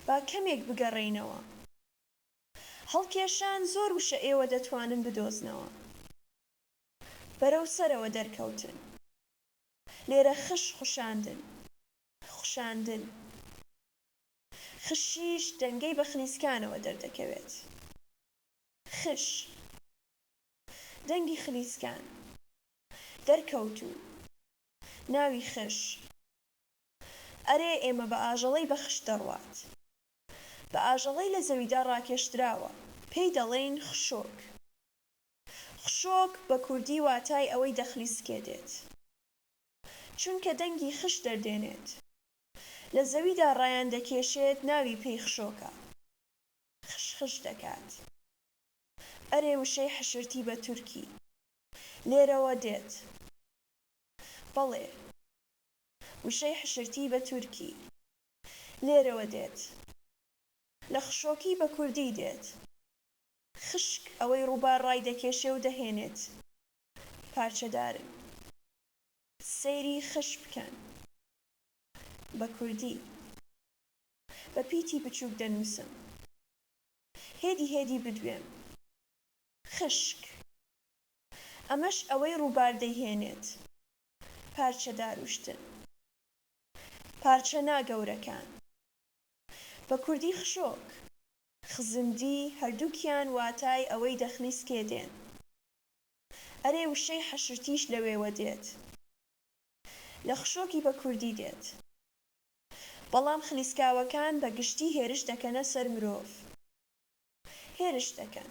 با کەمێک بگەڕێینەوە. هەڵکێشان زۆر وشە ئێوە دەتوانن بدۆزنەوە. بەرەو سەرەوە دەرکەوتن. لێرە خش خشاندن. خشاندن. خشیش دەنگەی بە خلیسکانەوە دەردەکەوێت. خش. دەنگی خلیسکان. دەرکەوتوو. ناوی خش ئەرێ ئێمە بە ئاژەڵەی بە خش دەڕوات بە ئاژەڵەی لە زەویدا ڕاکێشدراوە پێی دەڵێین خشۆک خشۆک بە کوردی واتای ئەوەی دەخلی سکێ دێت چونکە دەنگی خش دەردێنێت لە زەویدا ڕایان دەکێشێت ناوی پێی خشۆکە خش خش دەکات ئەرێ وشەی حشرتی بە تورکی لێرەوە دێت. بەڵێ. وشەی حشرتی بە تورکی. لێرەوە دێت. لە خشۆکی بە کوردی دێت. خشک ئەوەی ڕووبار ڕایدەکێشێ و دەهێنێت. پارچەدارن. سەیری خش بکەن. بە کوردی. بە پیتی بچووک دەنووسم. هێدی هێدی بدوێم. خشک. ئەمەش ئەوەی ڕووبار دەیهێنێت پارچە داروشتن پارچە نا گەورەکان بە کوردی خشۆک. خزندی هەردووکیان واتای ئەوەی دەخنی سکێ دێن ئەرێ وشەی حەشرتیش لەوێوە دێت لە خشۆکی بە کوردی دێت بەڵام خلیسکاوەکان بە گشتی هێرش دەکەنە سەر مرۆڤ هێرش دەکەن.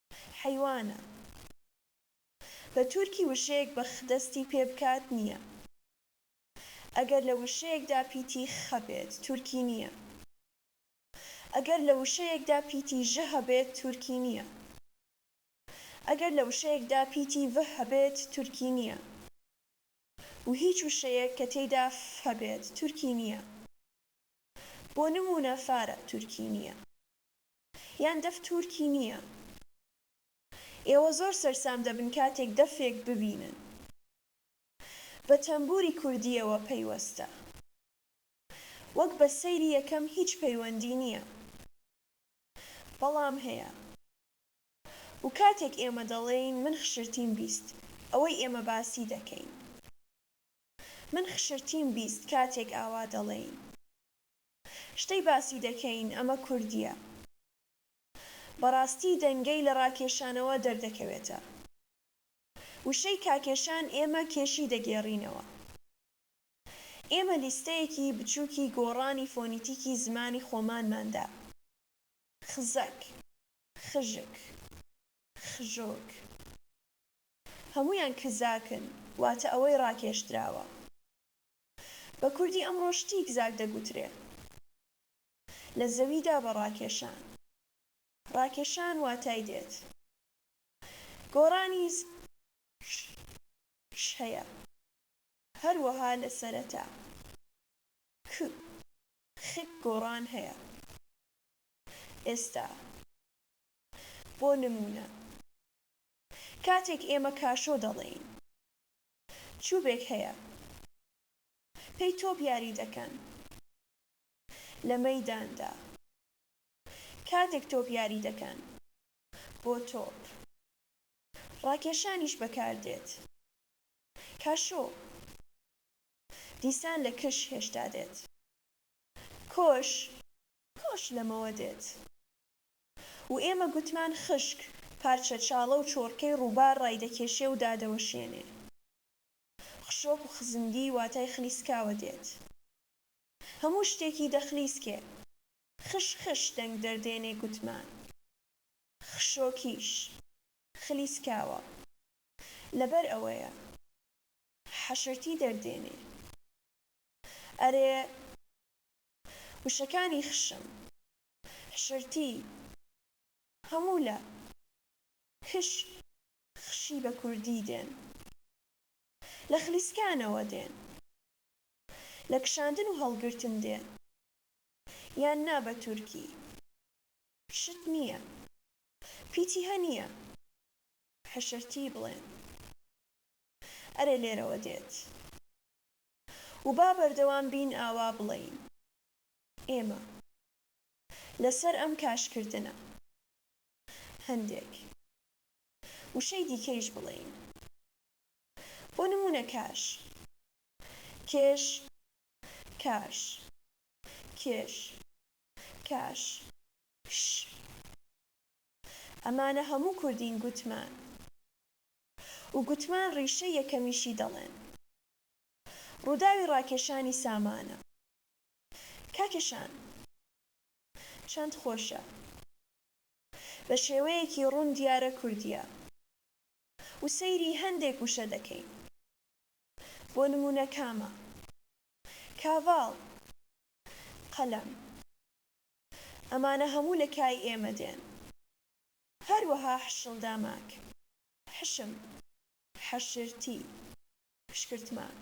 حەیوانە بە تورکی وشەیەک بە خ دەستی پێ بکات نییە ئەگەر لە وشەیەکدا پیتی خ هەبێت تورکی نییە ئەگەر لە وشەیەکدا پیتی ژ هەبێت تورکی نییە ئەگەر لە وشەیەکدا پیتی ڤ هەبێت تورکی نییە و هیچ وشەیەک کە تێیدا ف هەبێت تورکی نییە بۆ نموونە فارە تورکی نییە. یان دەف تورکی نیە. ئێوە زۆر سەرسام دەبن کاتێک دەفێک ببینن بە تەمبوری کوردیەوە پەیوەستە وەک بە سەیری یەکەم هیچ پەیوەندی نیە بەڵام هەیە و کاتێک ئێمە دەڵێین من خشرتیم بیست ئەوەی ئێمە باسی دەکەین من خشرتیم بیست کاتێک ئاوا دەڵێین. شتەی باسی دەکەین ئەمە کوردیە. بەڕاستی دەنگەی لە ڕاکێشانەوە دەردەکەوێتە. وشەی کاکێشان ئێمە کێشی دەگێڕینەوە. ئێمە لیستەیەکی بچووکی گۆڕانی فۆنیتیکی زمانی خۆمانمان دا. خزەک. خژک. خژۆک. هەموویان کزاکن. واتە ئەوەی ڕاکێشدراوە. بە کوردی ئەمڕۆ شتیک زاک دەگوترێ لە زەویدا بە ڕاکێشان ڕاکێشان واتای دێت گۆڕانی ش هەیە هەروەها لە سەرەتا ک خک گۆڕان هەیە ئێستا بۆ نموونە کاتێک ئێمە کاشۆ دەڵێین چوبێک هەیە پێی تۆپ یاری دەکەن لە مەیداندا کاتێک تۆپ یاری دەکەن بۆ تۆپ ڕاکێشانیش بەکاردێت کاشۆ دیسان لە کش هێشتا دێت کۆش کۆش لەمەوە دێت و ئێمە گوتمان خشک، پارچە چاڵە و چۆڕکەی ڕووبار ڕایدەکێشێ و دادەوەشێنێ. خشۆک و خزمگی واتای خلیسکاوە دێت. هەموو شتێکی دەخلیسکێ. خش خش دەنگ دەردێنێ گوتمان. خشۆکیش. خلیسکاوە. لەبەر ئەوەیە. حەشرتی دەردێنێ. ئەرێ وشەکانی خشم. حشرتی هەموو لە کش خشی بە کوردی دێن لە خلیسکانەوە دێن لە کشاندن و هەڵگرتن دێن یان نا بە تورکی شت نیە پیتی هە نیە حشرتی بڵێن ئەرێ لێرەوە دێت و با بەردەوام بین ئاوا بڵێین. ئێمە لەسەر ئەم کاشکردنە هەندێک وشەی دیکەیش بڵێین بۆ نموونە کاش، کێش، کاش، کێش، کاش، ش ئەمانە هەموو کوردین گوتمان و گوتمان ڕیشەی یەکەمیشی دەڵێن ڕووداوی ڕاکێشانی سامانە کاکە شان چەند خۆشە بە شێوەیەکی ڕوون دیارە کوردیە و سەیری هەندێک وشە دەکەین بۆ نموونە کامە کاڤاڵ قەلەم ئەمانە هەموو لە کای ئێمە دێن هەروەها حشڵداماک حشم حەشرتی پشکرتماک.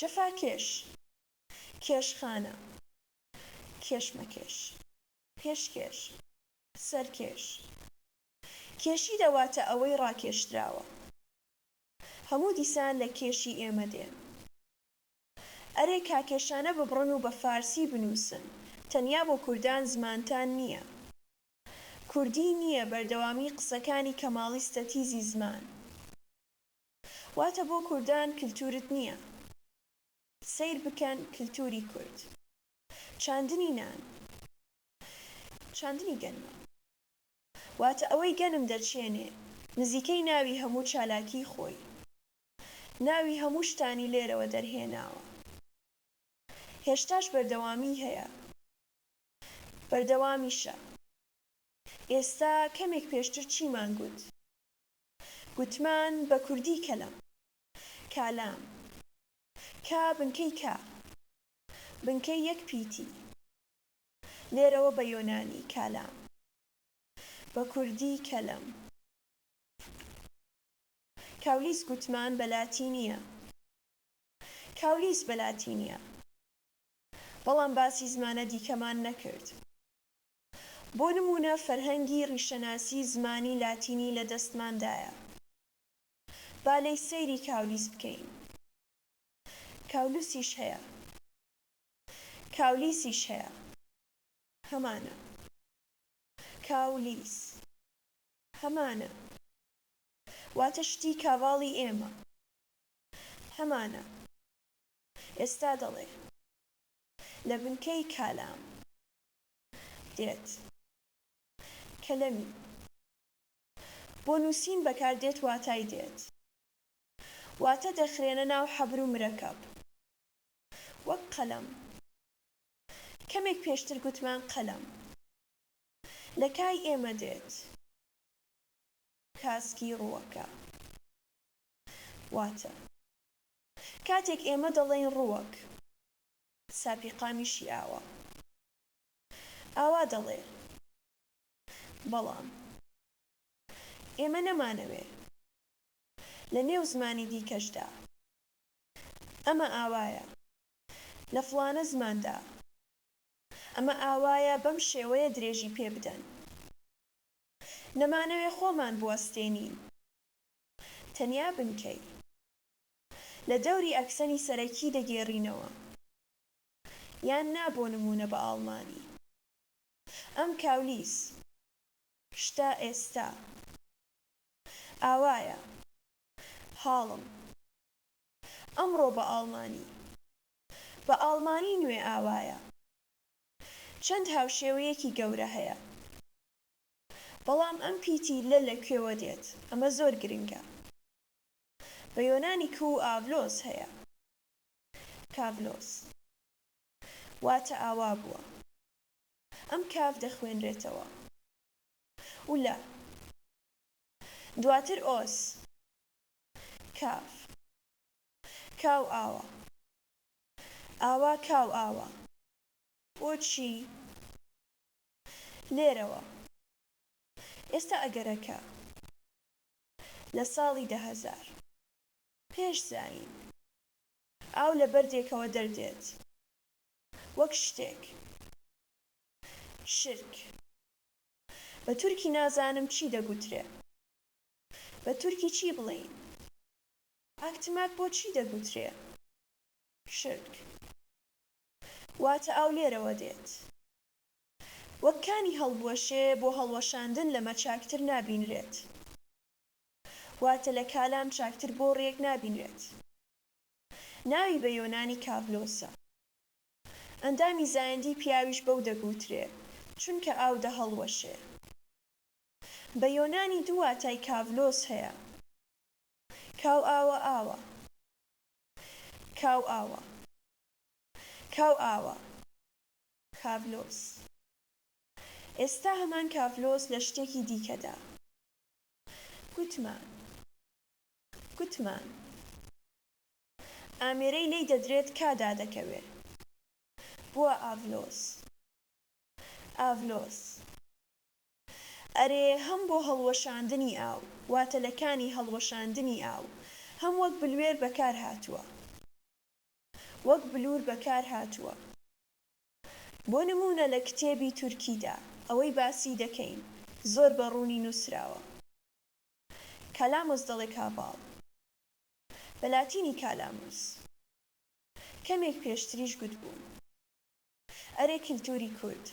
جەفاکێش، کێشخانە، کێشمەکێش، پێشکێش، سەرکێش، کێشی دەواتە ئەوەی ڕاکێشدراوە. هەموو دیسان لە کێشی ئێمە دێ. ئەرێ کاکێشانە ببڕن و بە فارسی بنووسن، تەنیا بۆ کوردان زمانتان نییە. کوردی نییە بەردەوامی قسەکانی کەماڵی ستەتیزی زمان. واتە بۆ کوردان کلتورت نیە. سەیر بکەن کلتوری کورد. چاندنی نان. چاندنی گەنمە. واتە ئەوەی گەنم دەچێنێ. نزیکەی ناوی هەموو چالاکی خۆی. ناوی هەموو شتانی لێرەوە دەرهێناوە. هێشتاش بەردەوامیی هەیە. بەردەوامیشە. ئێستا کەمێک پێشتر چیمان گوت؟ گوتمان، بە کوردی کەلەم. کالام. کا بنکەی کا. بنکەی یەک پیتی. لێرەوە بە یۆنانی، کالام. بە کوردی کەلەم. کاولیس گوتمان، بە لاتینییە. کاولیس بە لاتینییە. بەڵام باسی زمانە دیکەمان نەکرد. بۆ نموونە فەرهەنگی ڕیشەناسی زمانی لاتینی لە دەستماندایە. با لێی سەیری کاولیس بکەین. کاولوسیش هەیە. کاولیسیش هەیە. هەمانە. کاولیس. هەمانە. واتە شتی کاڤاڵی ئێمە. هەمانە. ئێستا دەڵێ. لە بنکەی کالام. دێت. کەلەمی بۆ نووسین بەکار دێت واتای دێت واتە دەخرێنە ناو حەبر و مرەکەب وەک قەلەم کەمێک پێشتر گوتمان قەلەم لە کای ئێمە دێت کاسکی ڕووەکە واتە کاتێک ئێمە دەڵێین ڕووەک ساپی قامیشی ئاوا ئاوا دەڵێ بەڵام ئێمە نەمانەوێ لە نێو زمانی دیکەشدا ئەمە ئاوایە لە فڵانە زماندا ئەمە ئاوایە بەم شێوەیە درێژی پێ بدەن نەمانەوێ خۆمان بوەستێنین تەنیا بنکەی. لە دەوری ئەکسەنی سەرەکی دەگێڕینەوە یان نا بۆ نموونە بە ئاڵمانی. ئەم کاولیس. شتە ئێستا. ئاوایە. هاڵم. ئەمڕۆ بە ئاڵمانی. بە ئاڵمانی نوێ ئاوایە. چەند هاوشێوەیەکی گەورە هەیە. بەڵام ئەم پیتی لە لە کوێوە دێت؟ ئەمە زۆر گرنگە. بە یۆنانی کو و ئاڤلۆس هەیە. کاڤلۆس. واتە ئاوا بووە. ئەم کاف دەخوێنرێتەوە. و لە. دواتر ئۆس. کاف. کا و ئاوا. ئاوا کا و ئاوا. بۆچی لێرەوە؟ ئێستا ئەگەرەکە. لە ساڵی دە هەزار پێش زایین. ئاو لە بەردێکەوە دەردێت وەک شتێک. شرک. بە تورکی نازانم چی دەگوترێ. بە تورکی چی بڵێین؟ ئاکتماک بۆ چی دەگوترێ؟ شرک. واتە ئاو لێرەوە دێت. وەک کانی هەڵبوەشێ بۆ هەڵوەشاندن لەمە چاکتر نابینرێت واتە لە کالام چاکتر بۆڕیەک نابینرێت ناوی بە یۆنانی کاڤلۆسە ئەندامی زایەندی پیاویش بەو دەگوترێ چونکە ئاو دەهەڵوەشێ بە یۆنانی دوو واتای کاڤلۆس هەیە کاو ئاوە ئاوە کاو ئاوە کاو ئاوە. کاڤلۆس. ئێستا هەمان کاڤلۆس لە شتێکی دیکەدا. گوتمان. گوتمان. ئامێرەی لێی دەدرێت کا دادەکەوێ. بووە ئاڤلۆس. ئاڤلۆس. ئەرێ هەم بۆ هەڵوەشاندنی ئاو، واتە لە کانی هەڵوەشاندنی ئاو، هەم وەک بلوێر بەکار هاتووە. وەک بلوور بەکار هاتووە. بۆ نموونە لە کتێبی تورکیدا ئەوەی باسی دەکەین زۆر بە ڕوونی نووسراوە، کالاموس دەڵێ کاڤاڵ، بە لاتینی کالاموس، کەمێک پێشتریش گوتبووم، ئەرێ کلتووری کورد،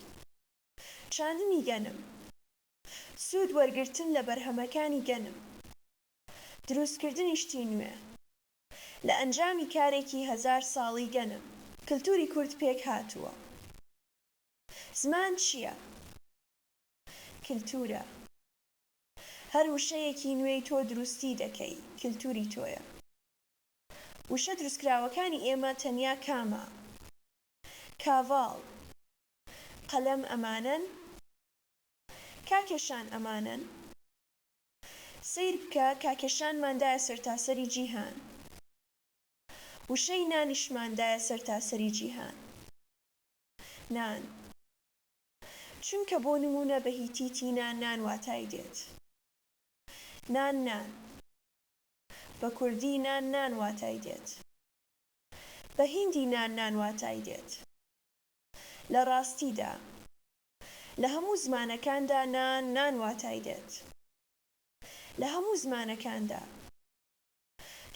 چاندنی گەنم، سوود وەرگرتن لە بەرهەمەکانی گەنم، درووستکردنی شتی نوێ، لە ئەنجامی کارێکی هەزار ساڵی گەنم کلتوری کورد پێک هاتووە. زمان چییە؟ کلتورە. هەر وشەیەکی نوێی تۆ دروستی دەکەی کلتوری تۆیە. وشە دروستکراوەکانی ئێمە تەنیا کامە؟ کاڤاڵ، قەلەم ئەمانەن؟ کاکێشان ئەمانەن؟ سەیر بکە کاکێشانمان دایە سەرتاسەری جیهان وشەی نانیشمان دایە سەرتاسەری جیهان نان چونکە بۆ نموونە بە هیتی تینا نان واتای دێت نان نان بە کوردی نان نان واتای دێت بە هیندی نان نان واتای دێت لە ڕاستیدا. لە هەموو زمانەکاندا نان نان واتای دێت لە هەموو زمانەکاندا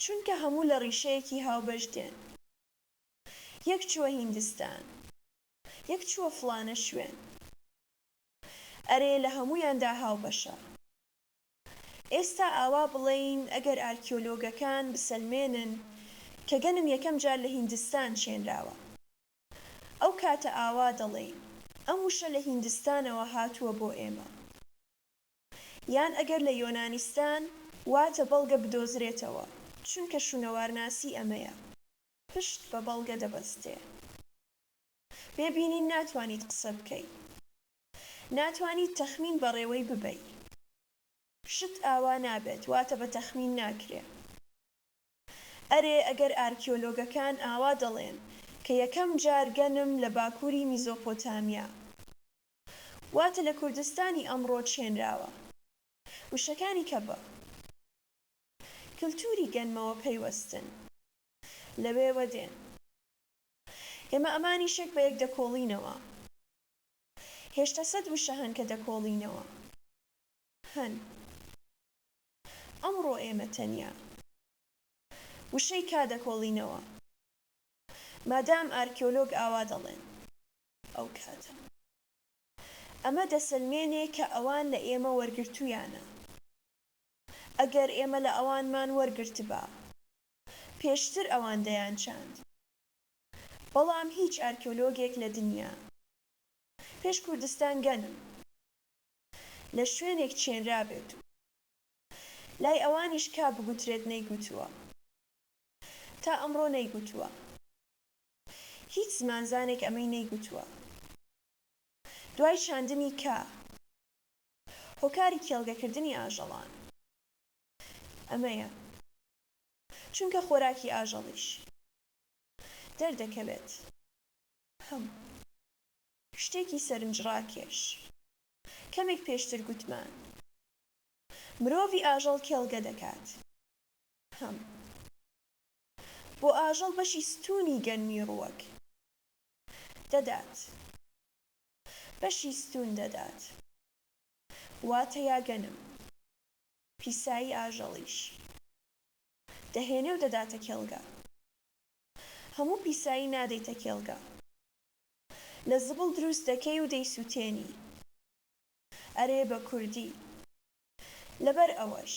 چونکە هەموو لە ڕیشەیەکی هاوبەش دێن یەک چووە هیندستان یەک چووە فڵانە شوێن ئەرێ لە هەموویاندا هاوبەشە ئێستا ئاوا بڵێین ئەگەر ئارکیۆلۆگەکان بسەلمێنن کە گەنم یەکەم جار لە هیندستان چێنراوە ئەو کاتە ئاوا دەڵێی ئەم وشە لە هیندستانەوە هاتووە بۆ ئێمە یان ئەگەر لە یۆنانیستان واتە بەڵگە بدۆزرێتەوە چونکە شونەوارناسی ئەمەیە پشت بە بەڵگە دەبەستێ بێ بینین ناتوانیت قسە بکەی ناتوانیت تەخمین بەڕێوەی ببەی شت ئاوا نابێت واتە بە تەخمین ناکرێ. ئەرێ ئەگەر ئارکیۆلۆگەکان ئاوا دەڵێن کە یەکەم جار گەنم لە باکووری میزۆپۆتامیا واتە لە کوردستانی ئەمڕۆ چێنراوە. وشەکانی کە بە کلتووری گەنمەوە پەیوەستن لەوێوە دێن. ئێمە ئەمانیش یەک بە یەک دەکۆڵینەوە. هێشتا سەد وشە هەن کە دەکۆڵینەوە. هەن. ئەمڕۆ ئێمە تەنیا وشەی کا دەکۆڵینەوە مادام ئارکێۆلۆگ ئاوا دەڵێن ئەو کاتە. ئەمە دەسەلمێنێ کە ئەوان لە ئێمە وەرگرتوویانە. ئەگەر ئێمە لە ئەوانمان وەرگرتبا پێشتر ئەوان دەیانچاند. بەڵام هیچ ئارکێۆلۆگێک لە دنیا پێش کوردستان گەنم. لە شوێنێک چێنرابێت و لای ئەوانیش کا بگوترێت نەیگوتووە. تا ئەمڕۆ نەیگوتووە. هیچ زمانزانێک ئەمەی نەیگوتووە. دوای چاندنی کا، هۆکاری کێڵگەکردنی ئاژەڵان ئەمەیە، چونکە خۆراکی ئاژەڵیش دەردەکەوێت. هەم. شتێکی سەرنجڕاکێش کەمێک پێشتر گوتمان مرۆڤی ئاژەڵ کێڵگە دەکات. هەم بۆ ئاژەڵ بەشی ستوونی گەنمی ڕووەک دەدات بەشی ستوون دەدات واتە یا گەنم پیسایی ئاژەڵیش دەهێنێ و دەداتە کێڵگە هەموو پیسایی نادەیتە کێڵگە لە زبڵ دروست دەکەی و دەیسوتێنی ئەرێ بە کوردی لەبەر ئەوەش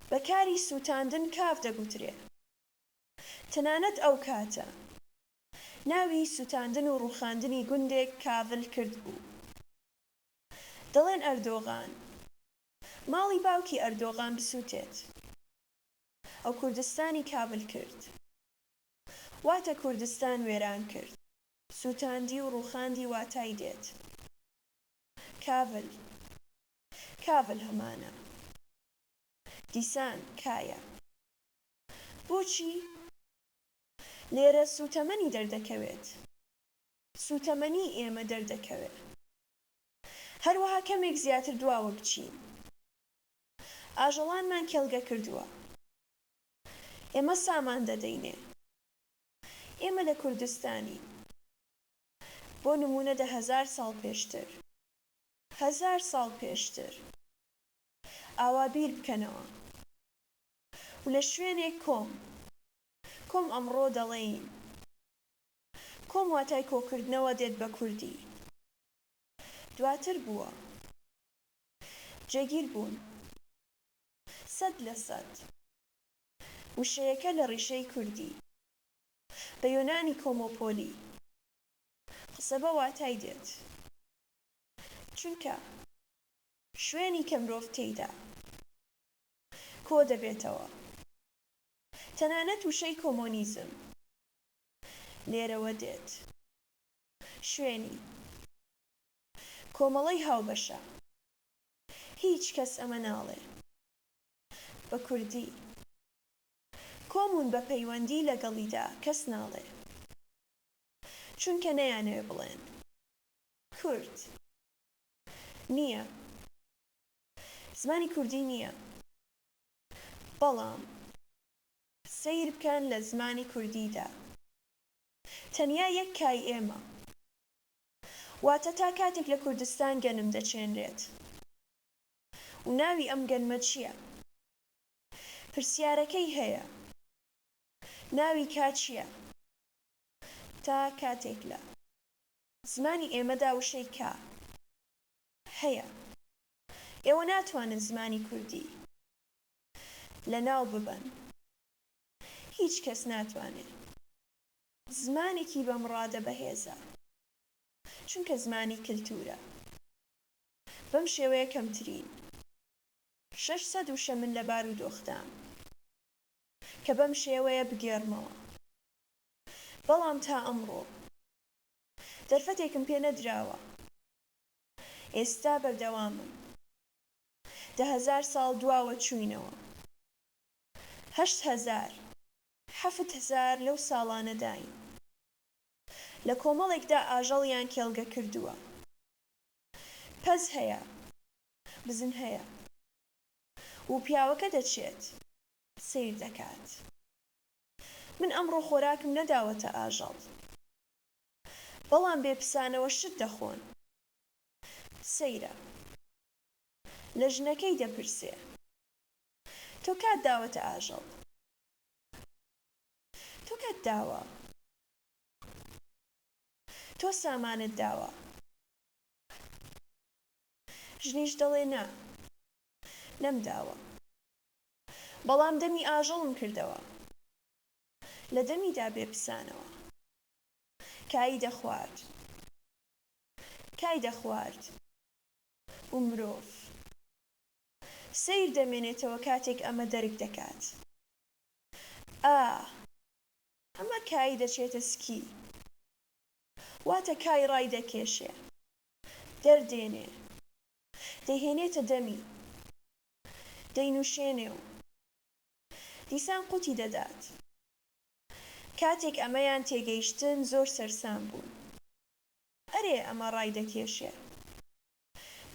بە کاری سوتاندن کاف دەگوترێ تەنانەت ئەو کاتە ناوی سوتاندن و ڕوخاندنی گوندێک کاڤل کرد بوو دەڵێن ئەردۆغان ماڵی باوکی ئەردۆغان بسوتێت ئەو کوردستانی کاڤل کرد. واتە کوردستان وێران کرد. سووتاندی و ڕووخاندی واتای دێت. کاڤل. کاڤل هەمانە. دیسان، کایە. بۆچی؟ لێرە سووتەمەنی دەردەکەوێت. سووتەمەنیی ئێمە دەردەکەوێ. هەروەها کەمێک زیاتر دواوە بچین. ئاژەڵانمان کێڵگە کردووە. ئێمە سامان دەدەینێ. ئێمە لە کوردستانین. بۆ نموونە دە هەزار ساڵ پێشتر. هەزار ساڵ پێشتر. ئاوا بیر بکەنەوە. و لە شوێنێک کۆم. کۆم ئەمڕۆ دەڵێین. کۆم واتای کۆکردنەوە دێت بە کوردی. دواتر بووە. جێگیر بوون. سەد لە سەد وشەیەکە لە ڕیشەی کوردی، بە یۆنانی کۆمۆپۆلی، قسە بە واتای دێت، چونکە شوێنی کە مرۆڤ تێیدا کۆ دەبێتەوە. تەنانەت وشەی کۆمۆنیزم لێرەوە دێت، شوێنی کۆمەڵەی هاوبەشە. هیچ کەس ئەمە ناڵێ بە کوردی کۆمون بە پەیوەندی لەگەڵیدا کەس ناڵێ چونکە نەیانەوێ بڵێن کورد نییە زمانی کوردی نییە بەڵام سەیر بکەن لە زمانی کوردیدا تەنیا یەک کای ئێمە واتە تا کاتێک لە کوردستان گەنم دەچێنرێت و ناوی ئەم گەنمە چییە؟ پرسیارەکەی هەیە ناوی کا چییە؟ تا کاتێک لە زمانی ئێمەدا وشەی کا هەیە ئێوە ناتوانن زمانی کوردی لەناو ببەن هیچ کەس ناتوانێ زمانێکی بەمڕادە بەهێزە، چونکە زمانی کلتورە. بەم شێوەیە کەمترین شەش سەد وشە من لە بارودۆخدام کە بەم شێوەیە بگێڕمەوە. بەڵام تا ئەمڕۆ دەرفەتێکم پێ نەدراوە. ئێستا بەردەوامم. دە هەزار ساڵ دواوەچووینەوە. هەشت هەزار. حەفت هەزار لەو ساڵانەداین لە کۆمەڵێکدا ئاژەڵیان کێڵگە کردووە. پەز هەیە. بزن هەیە. و پیاوەکە دەچێت. سەیر دەکات. من ئەمڕۆ خۆراکم نەداوەتە ئاژەڵ. بەڵام بێ پسانەوە شت دەخۆن. سەیرە. لە ژنەکەی دەپرسێ. تۆ کات داوەتە ئاژەڵ؟ تۆ کات داوە تۆ سامانت داوە ژنیش دەڵێ نا نەمداوە بەڵام دەمی ئاژەڵم کردەوە لە دەمیدا بێ پسانەوە کایی دەخوارد کای دەخوارد و مرۆڤ. سەیر دەمێنێتەوە کاتێک ئەمە دەرک دەکات ئا. ئەمە کایی دەچێتە سکی واتە کای ڕای دەکێشێ دەردێنێ دەیهێنێتە دەمی دەینوشێنێ و دیسان قوتی دەدات کاتێک ئەمەیان تێگەیشتن زۆر سەرسام بوون ئەرێ ئەمە ڕای دەکێشێ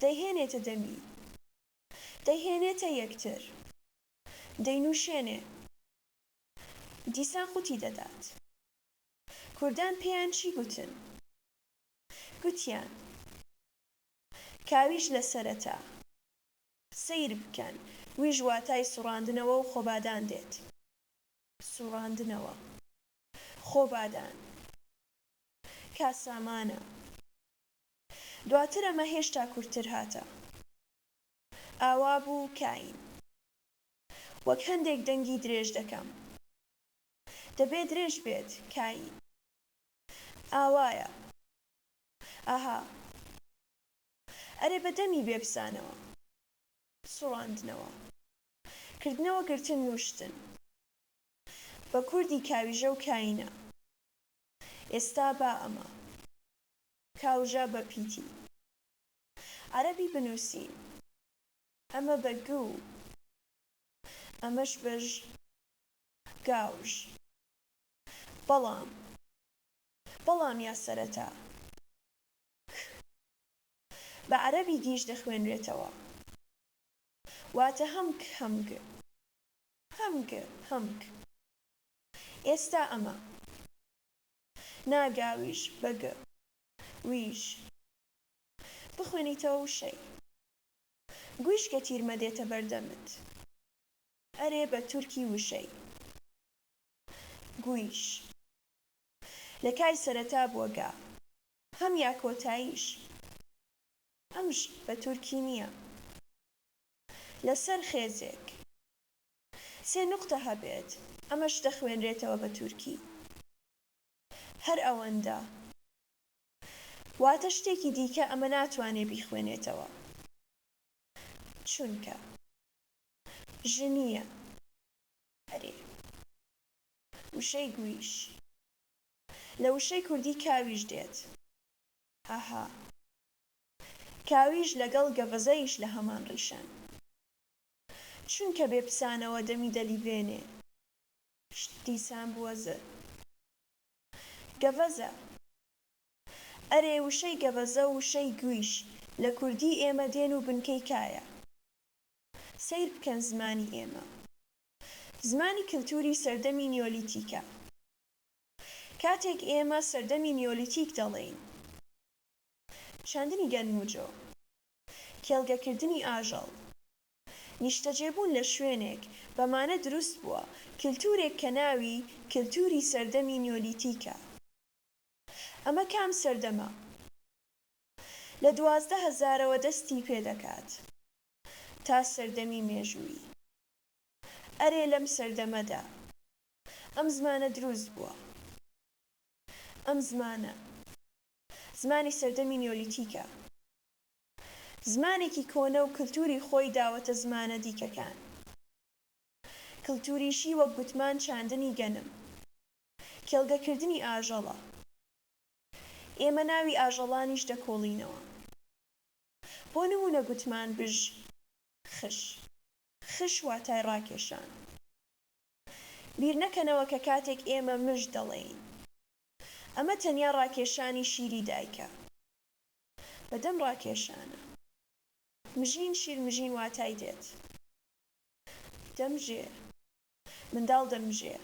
دەیهێنێتە دەمی. دەیهێنێتە یەکتر. دەینووشێنێ. دیسان قوتی دەدات. کوردان پێیان چی گوتن؟ گوتیان، کاویش لە سەرەتا. سەیر بکەن، ویش واتای سوڕاندنەوە و خۆبادان دێت. سوڕاندنەوە. خۆبادان. کاسامانە. دواتر ئەمە هێشتا کورتتر هاتە. ئاوا بوو کاین. وەک هەندێک دەنگی درێژ دەکەم. دەبێ درێژ بێت، کاین. ئاوایە. ئاها. ئەرێ بە دەمی بێبزانەوە. سوڕاندنەوە. کردنەوە گرتن نووشتن. بە کوردی کاویژە و کاینە. ئێستا با ئەمە. کاوژە بە پیتی عەرەبی بنووسین. ئەمە بە گ و ئەمەش بە ژ. گاوژ. بەڵام. بەڵام یا سەرەتا. ک. بە عەرەبی گیژ دەخوێنرێتەوە. واتە هەم ک هەم گ. هەم گ هەم ک. ئێستا ئەمە. نا گاویش بە گ ویش بخوێنیتەوە وشەی گویش کە تیرمە دێتە بەردەمت ئەرێ بە تورکی وشەی گویش لە کای سەرەتا بووە گا هەم یا کۆتاییش ئەمش بە تورکی نییە لە سەر خێزێک سێ نوقتە هەبێت ئەمەش دەخوێنرێتەوە بە تورکی هەر ئەوەندە واتە شتێکی دیکە ئەمە ناتوانێ بیخوێنێتەوە چونکە ژنییە ئەرێ وشەی گویش لە وشەی کوردی کاویش دێت هەهە کاویش لەگەڵ گەڤەزەیش لە هەمان ڕیشەن چونکە بێ پسانەوە دەمی دەلیبێنێ. شت دیسان بووە زە گەڤەزە. ئەرێ وشەی گەڤەزە و وشەی گویش لە کوردیی ئێمە دێن و بنکەی کایە؟ سەیر بکەن زمانی ئێمە زمانی کلتووری سەردەمی نیۆلیتیکە. کاتێک ئێمە سەردەمی نیۆلیتیک دەڵێین، چاندنی گەنم و جۆ. کێڵگەکردنی ئاژەڵ. نیشتەجێبوون لە شوێنێک بەمانە دروست بووە، کلتورێک کە ناوی کلتوری سەردەمی نیۆلیتیکە. ئەمە کام سەردەمە؟ لە دوازدە هەزارەوە دەستی پێ دەکات تا سەردەمی مێژوویی. ئەرێ لەم سەردەمەدا ئەم زمانە دروست بووە. ئەم زمانە. زمانی سەردەمی نیۆلیتیکە زمانێکی کۆنە و کلتوری خۆی داوەتە زمانە دیکەکان کلتوریشی وەک گوتمان چاندنی گەنم کێڵگە کردنی ئاژەڵە ئێمە ناوی ئاژەڵانیش دەکۆڵینەوە بۆ نمونە گوتمان بژ خش خش واتای ڕاکێشان بیر نەکەنەوە کە کاتێک ئێمە مژ دەڵێین ئەمە تەنیا ڕاکێشانی شیری دایکە بەدەم ڕاکێشانە. مژین شیر مژین واتای دێت دەمژێ. منداڵ دەمژێ.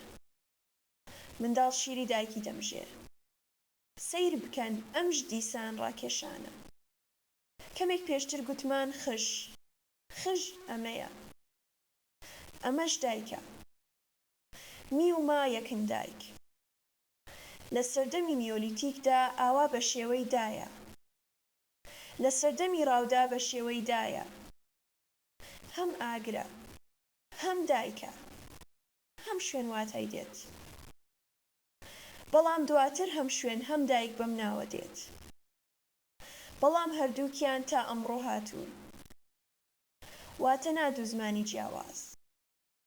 منداڵ شیری دایکی دەمژێ. سەیر بکەن ئەمژ دیسان ڕاکێشانە. کەمێک پێشتر گوتمان خژ. خژ ئەمەیە. ئەمەش دایکە. می و ما یەکن دایک. لە سەردەمی نیۆلیتیکدا ئاوا بە شێوەی دایە. لە سەردەمی ڕاودا بە شێوەی دایە. هەم ئاگرە. هەم دایکە. هەم شوێن واتای دێت. بەڵام دواتر هەم شوێن هەم دایک بەم ناوە دێت. بەڵام هەردووکیان تا ئەمڕۆ هاتوون. واتە نا دوو زمانی جیاواز.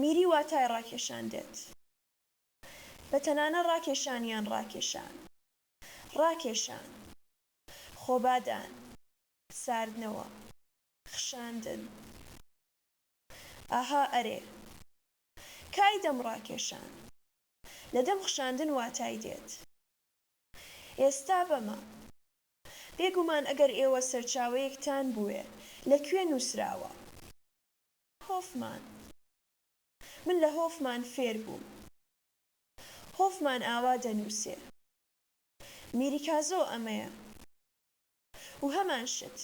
میری واتای ڕاکێشان دێت بە تەنانە ڕاکێشان یان ڕاکێشان، ڕاکێشان، خۆبادان، ساردنەوە، خشاندن. ئاها ئەرێ. کای دەم ڕاکێشان. لە دەم خشاندن واتای دێت. ئێستا بەمە. بێگومان ئەگەر ئێوە سەرچاوەیەکتان بوێ لە کوێ نووسراوە. هۆفمان، من لە هۆفمان فێر بووم. هۆفمان ئاوا دەنووسێ. میریکازۆ ئەمەیە. و هەمان شت.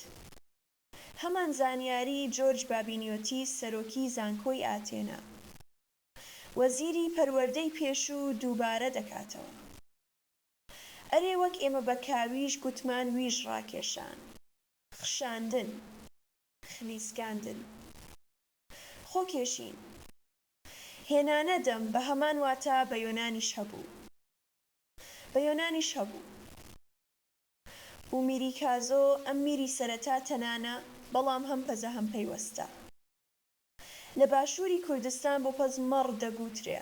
هەمان زانیاریی جۆرج بابینیۆتیس سەرۆکی زانکۆی ئاتێنا. وەزیری پەروەردەی پێشوو دووبارە دەکاتەوە. ئەرێ وەک ئێمە بە کاویش گوتمان ویژ ڕاکێشان. خشاندن. خلیسکاندن، خۆکێشین، هێنانە دەم بە هەمان واتا بە یۆنانیش هەبوو. بە یۆنانیش هەبوو. ئومیریکازۆ ئەم میری سەرەتا تەنانە بەڵام هەم پەزە هەم پەیوەستە. لە باشووری کوردستان بۆ پەز مەڕ دەگووترێ.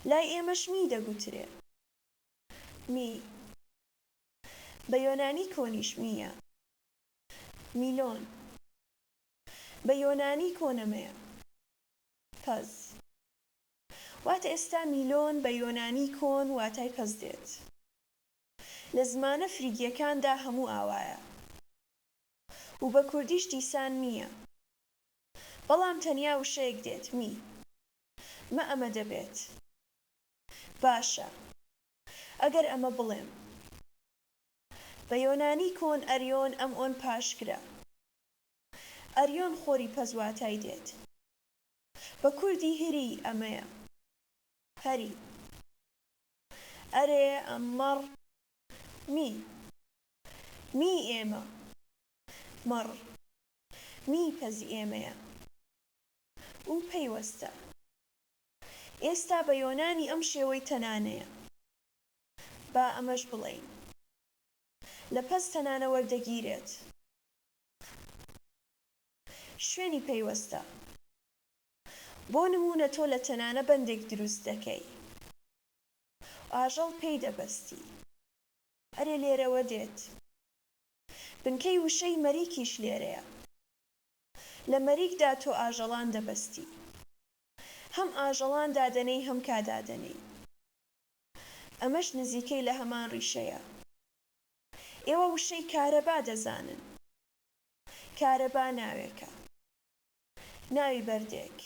لای ئێمەش می دەگووترێ. می. بە یۆنانی کۆنیش مییە. میلۆن، بە یۆنانی کۆنەمەیە، پەز، وات ئێستا میلۆن بە یۆنانی کۆن واتای پەز دێت. لە زمانە فریگیەکاندا هەموو ئاوایە و بە کوردیش دیسان مییە. بەڵام تەنیا وشەیەک دێت، می، مە ئەمە دەبێت. باشە ئەگەر ئەمە بڵێم. بە یۆنانی کۆن ئەریۆن ئەم ئۆن پاشگرە ئەریۆن خۆری پەس واتای دێت بە کوردی هری ئەمەیە هری ئەرێ مەڕ می می ئێمە مەڕ می پەزی ئێمەیە و پەیوەستە ئێستا بە یۆنانی ئەم شێوەی تەنانەیە. با ئەمەش بڵێین لە پەستە نانە وەردەگیرێت شوێنی پەیوەستە. بۆ نموونە تۆ لە تەنانە بەندێک دروست دەکەی و ئاژەڵ پێی دەبەستی. ئەرێ لێرەوە دێت. بنکەی وشەی مەریکیش لێرەیە. لە مەریکدا تۆ ئاژەڵان دەبەستی. هەم ئاژەڵان دادەنێی هەم کا دادەنێی. ئەمەش نزیکەی لە هەمان ڕیشەیە. ئێوە وشەی کارەبا دەزانن. کارەبا ناوێکە. ناوی بەردێک.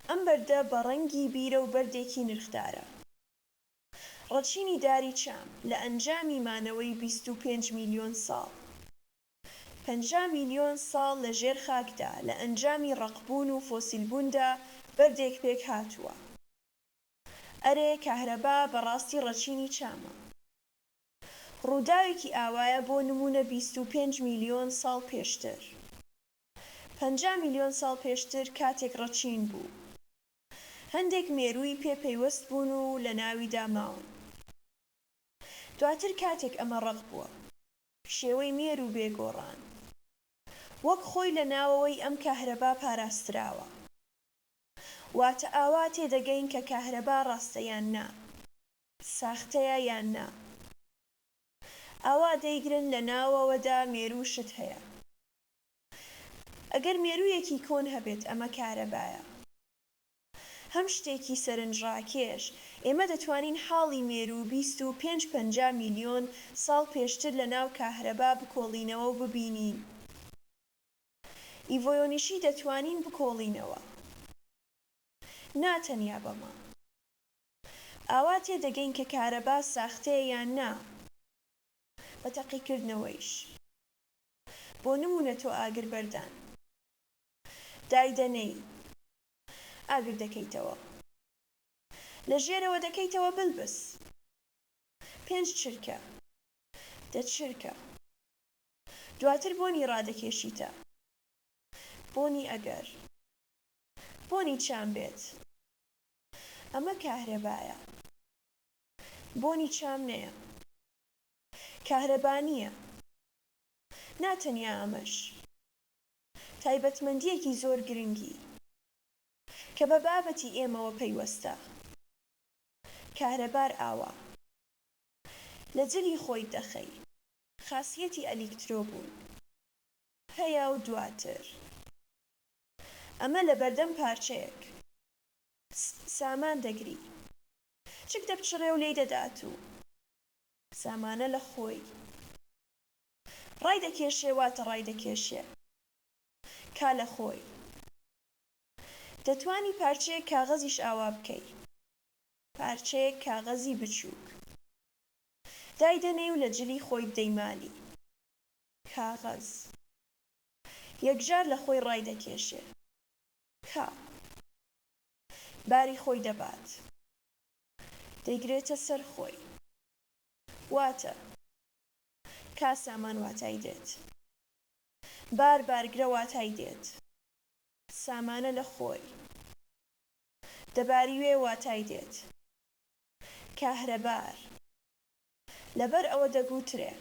ئەم بەردە بە ڕەنگی بیرە و بەردێکی نرخدارە. ڕەچینی داری چام لە ئەنجامی مانەوەی بیست و پێنج میلیۆن ساڵ. پەنجا میلیۆن ساڵ لە ژێر خاکدا لە ئەنجامی ڕەقبوون و فۆسیلبووندا بەردێک پێکهاتووە. ئەرێ کەهرەبا بەڕاستی ڕەچینی چامە؟ ڕووداوێکی ئاوایە بۆ نموونە بیست و پێنج میلیۆن ساڵ پێشتر پەنجا میلیۆن ساڵ پێشتر کاتێک ڕەچین بوو هەندێک مێرووی پێ پەیوەست بوون و لە ناویدا ماون دواتر کاتێک ئەمە ڕەق بووە. شێوەی مێروو بێ گۆڕان وەک خۆی لە ناوەوەی ئەم کەهرەبا پاراستراوە. واتە ئاوا تێدەگەین کە کاهرەبا ڕاستە یان نا؟ ساختەیە یان نا؟ ئاوا دەیگرن لە ناوەوەدا مێروو شت هەیە. ئەگەر مێروویەکی کۆن هەبێت ئەمە کارەبایە. هەم شتێکی سەرنجڕاکێش، ئێمە دەتوانین حاڵی مێروو بیست و پێنج پەنجا میلیۆن ساڵ پێشتر لە ناو کاهرەبا بکۆڵینەوە و ببینین. ئیڤۆۆنیشی دەتوانین بکۆڵینەوە نا تەنیا بەمە ئاوا تێ دەگەین کە کارەبا ساختەیە یان نا بە تەقیکردنەوەیش بۆ نموونە تۆ ئاگر بەردان دایدەنێی ئاگر دەکەیتەوە لە ژێرەوە دەکەیتەوە بلبس پێنج چرکە دە چرکە. دواتر بۆنی ڕادەکێشیتە بۆنی ئەگەر بۆنی چام بێت ئەمە کاهرەبایە بۆنی چام نەیە کاهرەبا نییە نا تەنیا ئەمەش تایبەتمەندییەکی زۆر گرنگی کە بە بابەتی ئێمەوە پەیوەستە کاهرەبار ئاوا لە جلی خۆیت دەخەی خاسیەتی ئەلیکترۆ بوون هەیە و دواتر ئەمە لە بەردەم پارچەیەک سامان دەگری چک دەپچڕێ و لێی دەدات و سامانە لە خۆی ڕایدەکێشێ واتە ڕایدەکێشێ کا لە خۆی دەتوانی پارچەیەک کاغەزیش ئاوا بکەی پارچەیەک کاغەزی بچووک دایدەنێی و لە جلی خۆی بدەی مالی کاغەز یەکجار لە خۆی ڕایدەکێشێ کە باری خۆی دەبات دەیگرێتە سەر خۆی واتە کا سامان واتای دێت بار بارگرە واتای دێت سامانە لە خۆی دەباریوێ واتای دێت کاهرەبار لەبەر ئەوە دەگوترێ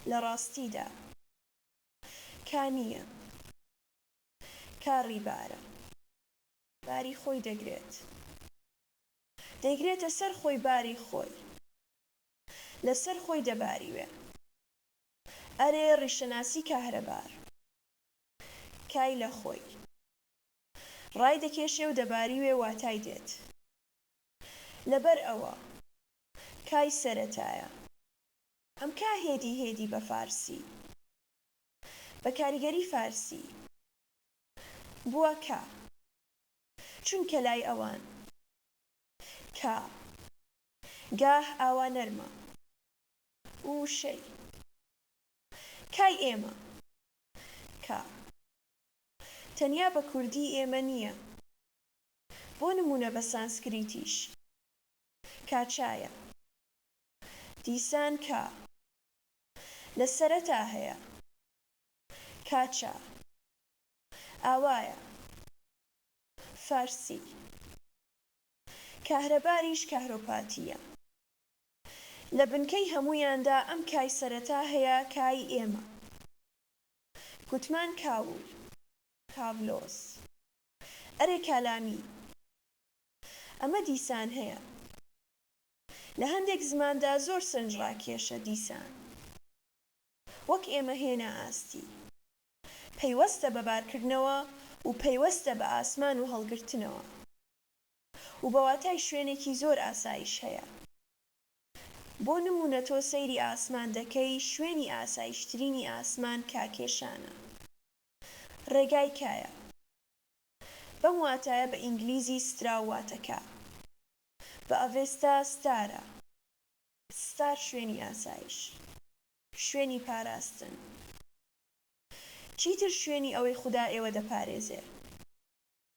لە ڕاستیدا کا نییە، کا ڕیبارە. باری خۆی دەگرێت. دەیگرێتە سەر خۆی باری خۆی لە سەر خۆی دەباریوێ. ئەرێ ڕیشەناسی کاهرەبار کای لە خۆی؟ ڕای دەکێشێ و دەباریوێ واتای دێت لەبەر ئەوە کای سەرەتایە. ئەم کا هێدی هێدی بە فارسی بە کاریگەری فارسی بووە کا چونکە لای ئەوان کا گاه ئاوا نەرمە و وشەی کای ئێمە کا تەنیا بە کوردی ئێمە نییە، بۆ نموونە بە سانسکریتیش. کاچایە. دیسان کا. لە سەرەتا هەیە. کاچا. ئاوایە. فارسی. کاهرەباریش کاهرۆپاتییە. لە بنکەی هەموویاندا ئەم کای سەرەتا هەیە، کای ئێمە. گوتمان کاول، کاڤلۆس. ئەرێ کالامی. ئەمە دیسان هەیە. لە هەندێک زماندا زۆر سەرنجڕاکێشە دیسان. وەک ئێمە هێنا ئاستی. پەیوەستە بە بارکردنەوە و پەیوەستە بە ئاسمان و هەڵگرتنەوە. و بە واتای شوێنێکی زۆر ئاسایش هەیە. بۆ نموونە تۆ سەیری ئاسمان دەکەی، شوێنی ئاسایشترینی ئاسمان کاکێشانە. ڕێگای کایە. بەم واتایە بە ئینگلیزی ستراو واتە کا. بە ئەڤێستا ستارە. ستار شوێنی ئاسایش. شوێنی پاراستن. چیتر شوێنی ئەوەی خودا ئێوە دەپارێزێ.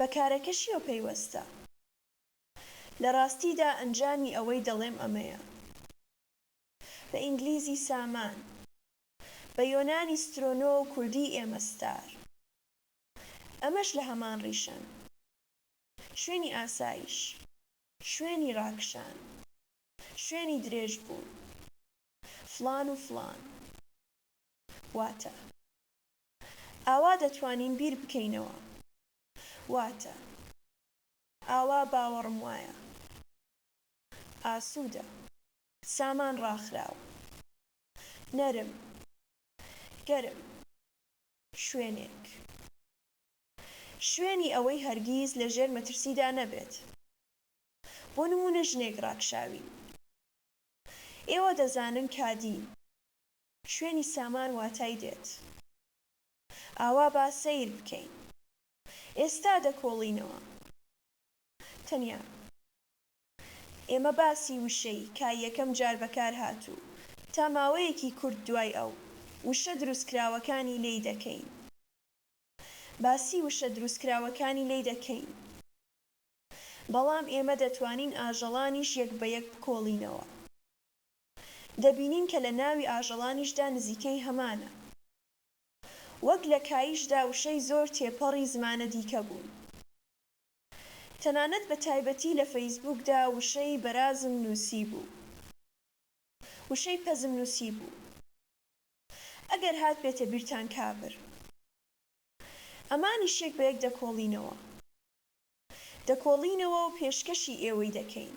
بە کارەکەشیەوە پەیوەستە. لە ڕاستیدا ئەنجامی ئەوەی دەڵێم ئەمەیە. بە ئینگلیزی سامان. بە یۆنانی سترۆنۆ و کوردی ئێمە ستار. ئەمەش لە هەمان ڕیشەن. شوێنی ئاسایش. شوێنی ڕاکشان. شوێنی درێژ بوون. فڵان و فڵان. واتە. ئاوا دەتوانین بیر بکەینەوە. واتە، ئاوا باوەڕم وایە. ئاسوودە. سامان ڕاخراو. نەرم. گەرم. شوێنێک. شوێنی ئەوەی هەرگیز لە ژێر مەترسیدا نەبێت. بۆ نموونە ژنێک ڕاکشاوی. ئێوە دەزانن کادی. شوێنی سامان واتای دێت ئاوا با سەیر بکەین ئێستا دەکۆڵینەوە تەنیا ئێمە باسی وشەی کا یەکەم جار بەکار هاتوو تا ماوەیەکی کورت دوای ئەو وشە دروستکراوەکانی لێی دەکەین باسی وشە دروستکراوەکانی لێی دەکەین بەڵام ئێمە دەتوانین ئاژەڵانیش یەک بە یەک بکۆڵینەوە. دەبینین کە لە ناوی ئاژەڵانیشدا نزیکەی هەمانە. وەک لە کاییشدا وشەی زۆر تێپەڕی زمانە دیکە بوون. تەنانەت بە تایبەتی لە فەیسبووکدا وشەی بەرازم نووسیبوو. وشەی پەزم نووسیبوو. ئەگەر هاتبێتە بیرتان کابر. ئەمانیش یەک بە یەک دەکۆڵینەوە. دەکۆڵینەوە و پێشکەشی ئێوەی دەکەین.